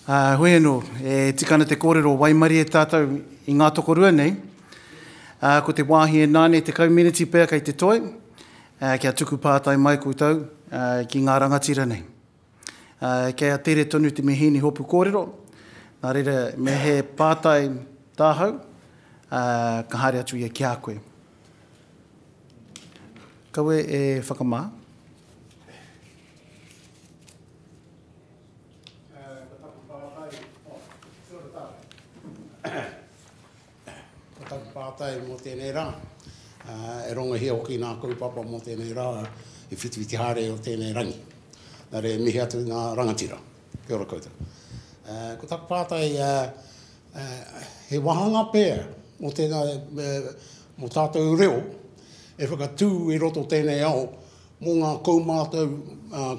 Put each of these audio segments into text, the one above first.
Ā, hoi anō, e tika ana te kōrero waimarie e tātou i ngā tokorua nei. Ā, ko te wāhi e nāne tekau meneti pea kei te toe, ā, kia tuku pātai mai koutou, ā, ki ngā rangatira nei. Ā, kei a Tere tonu te mihīni hopu kōrero, nā reira me he pātai tāhau, ā, ka haere atu ia ki a koe. Kawe e whakamā. Ko taku pātai, oh, kia ora tātou. Ko taku pātai mō tēnei rā, e rongohia hoki nā kaupapa mō tēnei rā i whitu i te haere o tēnei rangi. Nā reira e mihi atu ngā rangatira. Kia ora koutou. Ko taku pātai, He wāhanga pea mō tēnā, mō tātou reo e whakatū i roto tēnei ao mō ngā kaumātau,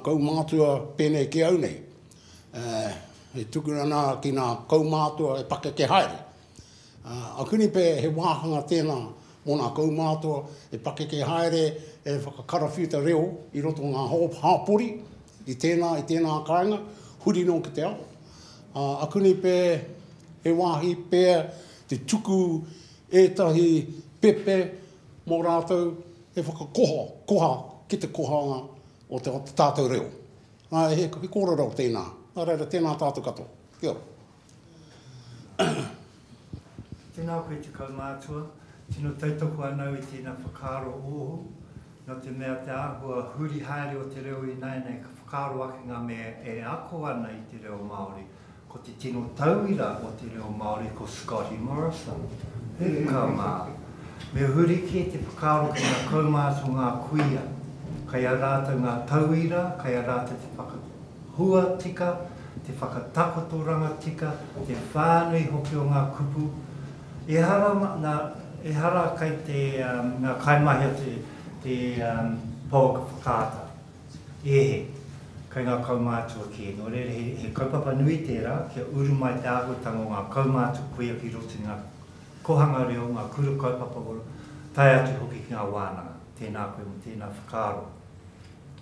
kaumātua pēnei ki au nei. E tukuna ana ki ngā kaumātua e pakeke haere. A Kuni pea he wāhanga tēnā mō ngā kaumātua e pakeke haere, e whakakarawhiuta reo i roto ngā hapori i tēnā, i tēnā kāinga, huri nō ki te ao. Ā, aku nei pē, he wāhi pea te tuku ētahi pepe mō rātou he whakakoha, koha ki te kohanga o te tātou reo. Ā, he kōrero tēnā. Nā reira, tēnā tātou katoa. Kia ora. Tēnā koe te kaumātua, tino tautoko anau i tēnā whakaaro ohu, nō te mea te āhua huri haere o te reo ināianei ka whakaaro ake ngā mea e ako ana i te reo Māori, ko te tino tauira o te reo Māori ko Scotty Morrison. He ka mā. Me huri kē te whakaaro ki ngā kaumātua ngā kuia, kei a rātou ngā tauira, kei a rātou te hua tika, te whakatakotoranga tika, te whānui hoki o ngā kupu. Ehara, nā, ehara kai te, ngā kaimahi o te, te pouaka whakaata. E he, kai ngā kaumātua kē. Nō reira, he, he kaupapa nui tērā kia uru mai te āhuatanga o ngā kaumātua koia ki roto i ngā kohanga reo, ngā kura kaupapa, tae atu hoki ki ngā wānanga. Tēnā koe mō tēnā whakaaro.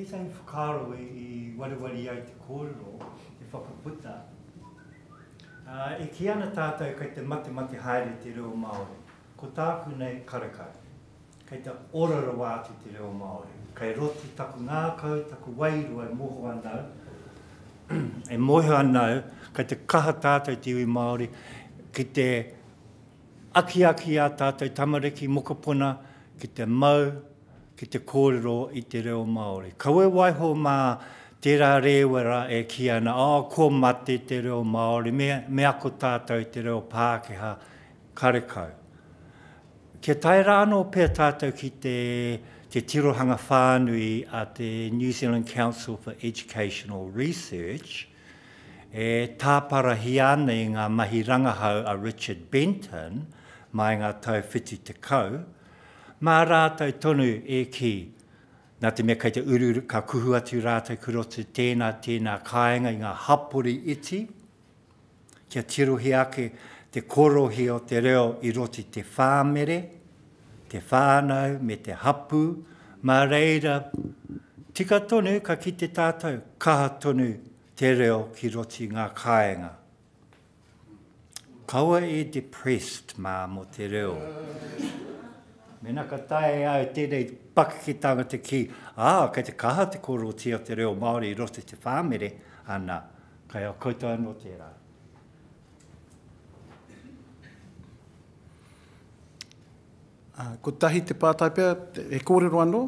Tētahi whakaaro i wareware ai te kōrero e whakaputa, e kī ana tātou kei te matemate haere te reo Māori, ko tāku nei karekare. Kei te ora rawa atu te reo Māori. Kei roto taku ngākau, taku wairua e moho ana au, e moho ana au, kei te kaha tātou te iwi Māori, ki te akiaki i ā tātou tamariki, mokopuna, ki te mau, ki te kōrero i te reo Māori. Kaua e waiho mā tērā rēwera e kī ana, oh, kua mate te reo Māori, me, me ako tātou te reo Pākehā, karekau. Kia tae rā anō pea tātou ki te te tirohanga whānui a te New Zealand Council for Educational Research, e tāparahia ana i ngā mahi rangahau a Richard Benton mā i ngā tau whitu tekau, mā rātou tonu e kī, nā te mea kei te uruuru, ka kuhu atu rātou kua roto tēnā, tēnā kāinga i ngā hapori iti, Kia tirohia ake te korohia o te reo i roto i te whāmere, te whānau me te hapū, mā reira tika tonu ka kite tātou kaha tonu te reo ki roto i ngā kāenga. Kaua e depressed mā mō te reo. Mēnā ka taea e au tēnei pakeke tāngata ki, ā, kei te kaha te korohia o te reo Māori i roto i te whāmere, ana, Kai a koutou anō tērā. Ā, kotahi te pātai pea, he kōrero anō?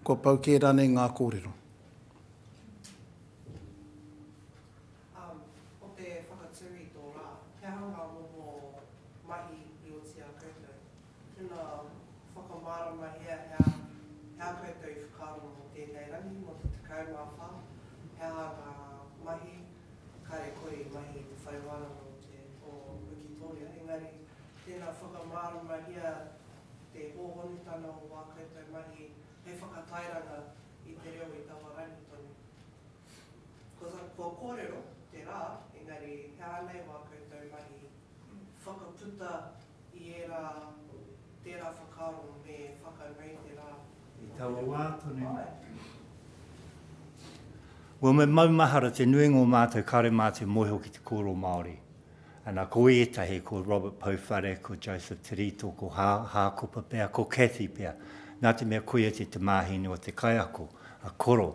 Kua pau kē rānei ngā kōrero? Tena whakamārama hea hea hea koutou i whakaaro mō tēnei rangi mō te 14 he aha ngā mahi kare kore i mahi i te whare wānanga o te o Wikitōria engari tena whakamārama hea te hōhonutanga o wā koutou mahi hei whakatairanga i te reo i taua rangi tonu kua kōrero te rā engari he aha nei wā koutou mahi whakaputa i ērā tērā whakaaro me whakanui te rā. I taua wā tonu. Well, me maumahara te nui ngō mātou kāre mā te moeho ki te kōrero Māori. Ana, ko ētahi, ko Robert Pouwhare, ko Joseph Terito, ko Hā, Hākopa pea, ko Cathy pea. Nā te mea koia te tamāhine o te kaiako, a Koro.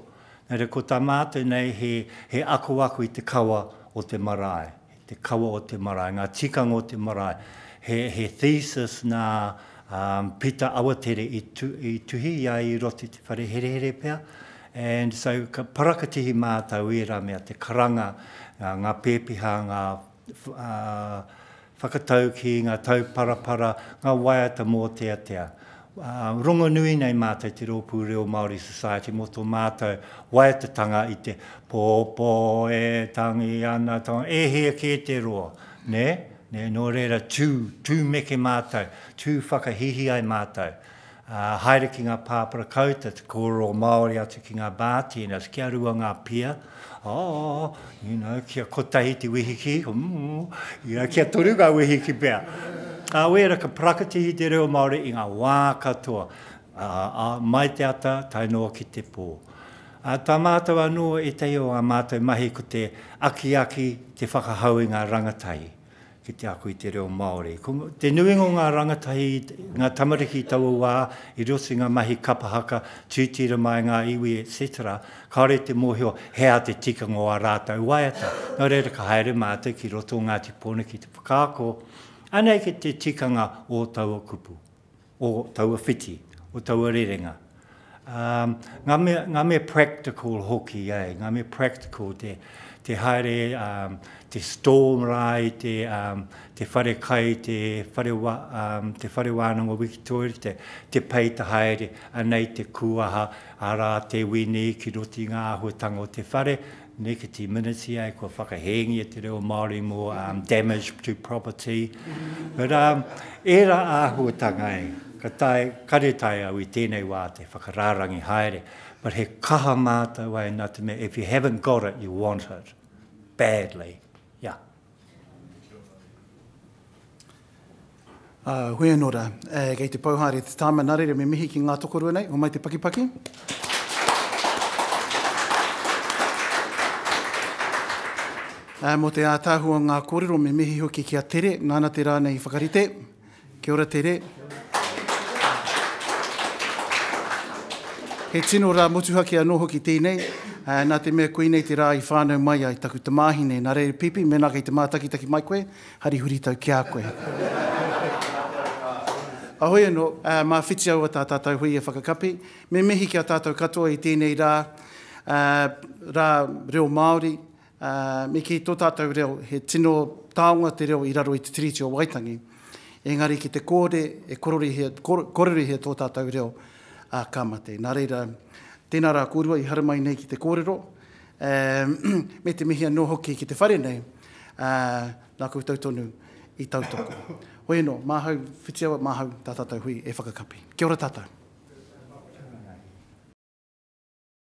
Nā reira, ko tā mātou nei he, he akoako i te kawa o te marae. te kawa o te marae, ngā tikanga o te marae. He, he thesis nā um, Pita Awatere i, tu, i tuhi i a i roto i te whare herehere pea. And so ka parakatihi mātou i ērā mea te karanga, ngā, ngā pēpiha, ngā uh, whakatau ki ngā tauparapara, ngā waiata mōteatea. Rongonui nei mātou te Rōpū Reo Māori Society mō tō mātou waetatanga i te pōpō e tangi ana tō, e hē kē te roa, nē? Nē, nō reira, tū, tū meke mātou, tū whakahīhī ai mātou, ā, haere ki ngā pāpara kauta, te kōrero Māori atu ki ngā bartenders, kia rua ngā pia, Ā, ina kia kotahi te wehiki, mm, ina kia toru ngā wehiki pea. Ā, wēra ka parakatihi te reo Māori i ngā wā katoa, ā, ā, mai te ata tae noa ki te pō. Ā, tā mātou anō ētahi o ā mātou mahi ko te akiaki, te whakahau i ngā rangatahi. ki te ako i te reo Māori. Ko te nuinga o ngā rangatahi, ngā tamariki i taua wā, i roto i ngā mahi kapa haka, tītira mai ngā iwi, etc. Kāore te mōhio he aha te tikanga o ā rātou waiata. Nō reira ka haere mātou ki roto o Ngāti Pōneke ki te whakaako, anei kei te tikanga o taua kupu. o taua whiti, o taua rerenga. Um, ngā, mea, ngā mea practical hoki, eh? ngā mea practical, te, te haere, um, te storm rai, te, um, te whare kai, te whare, wa, um, te whare wānanga wikitoria, te, te pei te haere, anei te kuaha, arā te wini ki roti ngā ahuatanga o te whare, Neke te miniti ai kua whakahēngia te reo Māori mō um, damage to property. But um, ērā āhuatanga e, ka tae, kare tae au i tēnei wā te whakarārangi haere. But he kaha mātou ai nā te mea, if you haven't got it, you want it. Badly. Yeah. Huianora, kei te pau haere te tāma, nā reira me mihi ki ngā tokorua nei, homai te pakipaki. Mō te ātaahua o ngā kōrero, me mihi hoki ki a Tere, nāna te rā nei i whakarite. Kia ora Tere. He tino rā motuhake anō hoki tēnei, nā te mea koinei te rā i whānau mai ai taku tamāhine. Nā reira Pipi, mēnā kei te mātakitaki mai koe, hari huritau ki a koe. Ahoi anō, mā whiti aua tā tātou hui e whakakapi. Me mihi ki a tātou katoa i tēnei rā, rā reo Māori, Ā, me kī, tō tātou reo, he tino taonga te reo i raro i te Tiriti o Waitangi, engari ki te kore e kororihia, kororihia tō tātou reo, ā, ka mate. Nā reira, tēnā rā kōrua i haramai nei ki te kōrero, ā, me te mihi anō hoki ki te whare nei, ā, nā koutou tonu i tautoko. Hoi anō, māhau whitiawa, māhau tā tātou hui e whakakapi. Kia ora tātou.